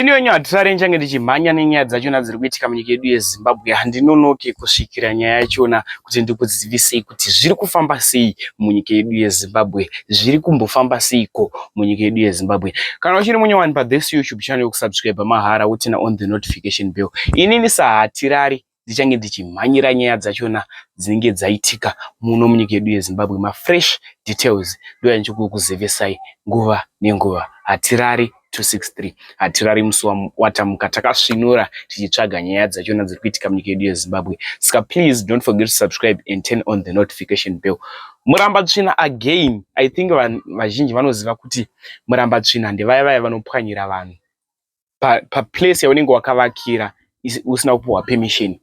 Iniyo nyaya hatisare nchange ndichimhanya nenyaya dzachona dziri kuitika munyika yedu yezimbabwe handinonoke kusvikira nyaya yachona kuti ndikuzivisei kuti zviri kufamba sei munyika yedu yezimbabwe zviri kumbofamba seiko munyika yedu yezimbabwe kana uchiri munyowani pathis youtube channel yokusubscribe mahara wotina on the notification bell inini sahatirari dzichange dzichimhanyira nyaya dzachona dzinenge dzaitika muno munyika yedu yezimbabwe mafresh details ndoyandichikukuzivesai nguva nenguva hatirari 263 hatirari musi watamuka takasvinura tichitsvaga nyaya dzachona dziri kuitika munyika yedu yezimbabwe saka please don't forget to subscribe and turn on the notification bell muramba tsvina again i think vazhinji vanoziva kuti muramba tsvina ndevaya vaya vanopwanyira vanhu paplace pa yaunenge wakavakira usina kupuhwa permission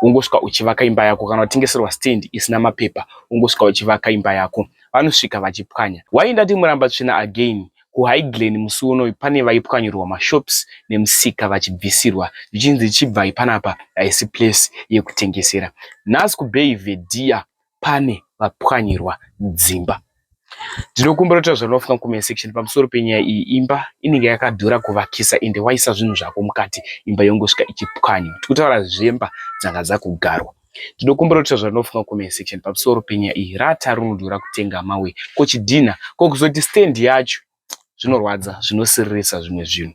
ungosvika uchivaka imba yako kana utengeserwa stand isina mapepa ungosvika uchivaka imba yako vanosvika vachipwanya why ndati muramba tsvina again kuhighglen musi unoyu pane vaipwanyirwa mashops nemusika vachibvisirwa zvichinzi chibvai panapa haisi place yekutengesera nhasi kubay vedia pane vapwanyirwa dzimba. Ndinokumbira kuti zvauri kufunga comment section pamusoro penyaya iyi. Imba inenge yakadhura kuvakisa ende waisa zvinhu zvako mukati imba yongosvika ichipwanywa. Tikutaura zvemba dzanga dzakugarwa. Ndinokumbira kuti zvauri kufunga comment section pamusoro penyaya iyi. Rata rinodhura kutenga mawe ko chidhinha ko kuzoti stand yacho zvinorwadza zvinosiririsa zvimwe zvinhu.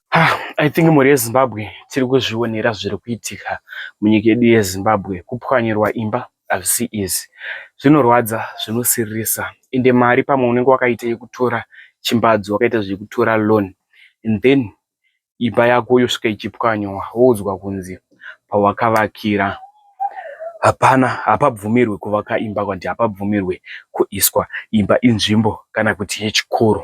Ha, I think mhuri yeZimbabwe tiri kuzvionera zviri kuitika munyika yedu yeZimbabwe. Kupwanyirwa imba hazvisi izi, zvinorwadza, zvinosiririsa. Ende mari pamwe unenge wakaita yekutora chimbadzo, wakaita zvekutora loan and then imba yako yosvika ichipwanywa, woudzwa kunzi pawakavakira hapana, hapabvumirwe kuvaka imba, kuti hapabvumirwe kuiswa imba, inzvimbo kana kuti yechikoro.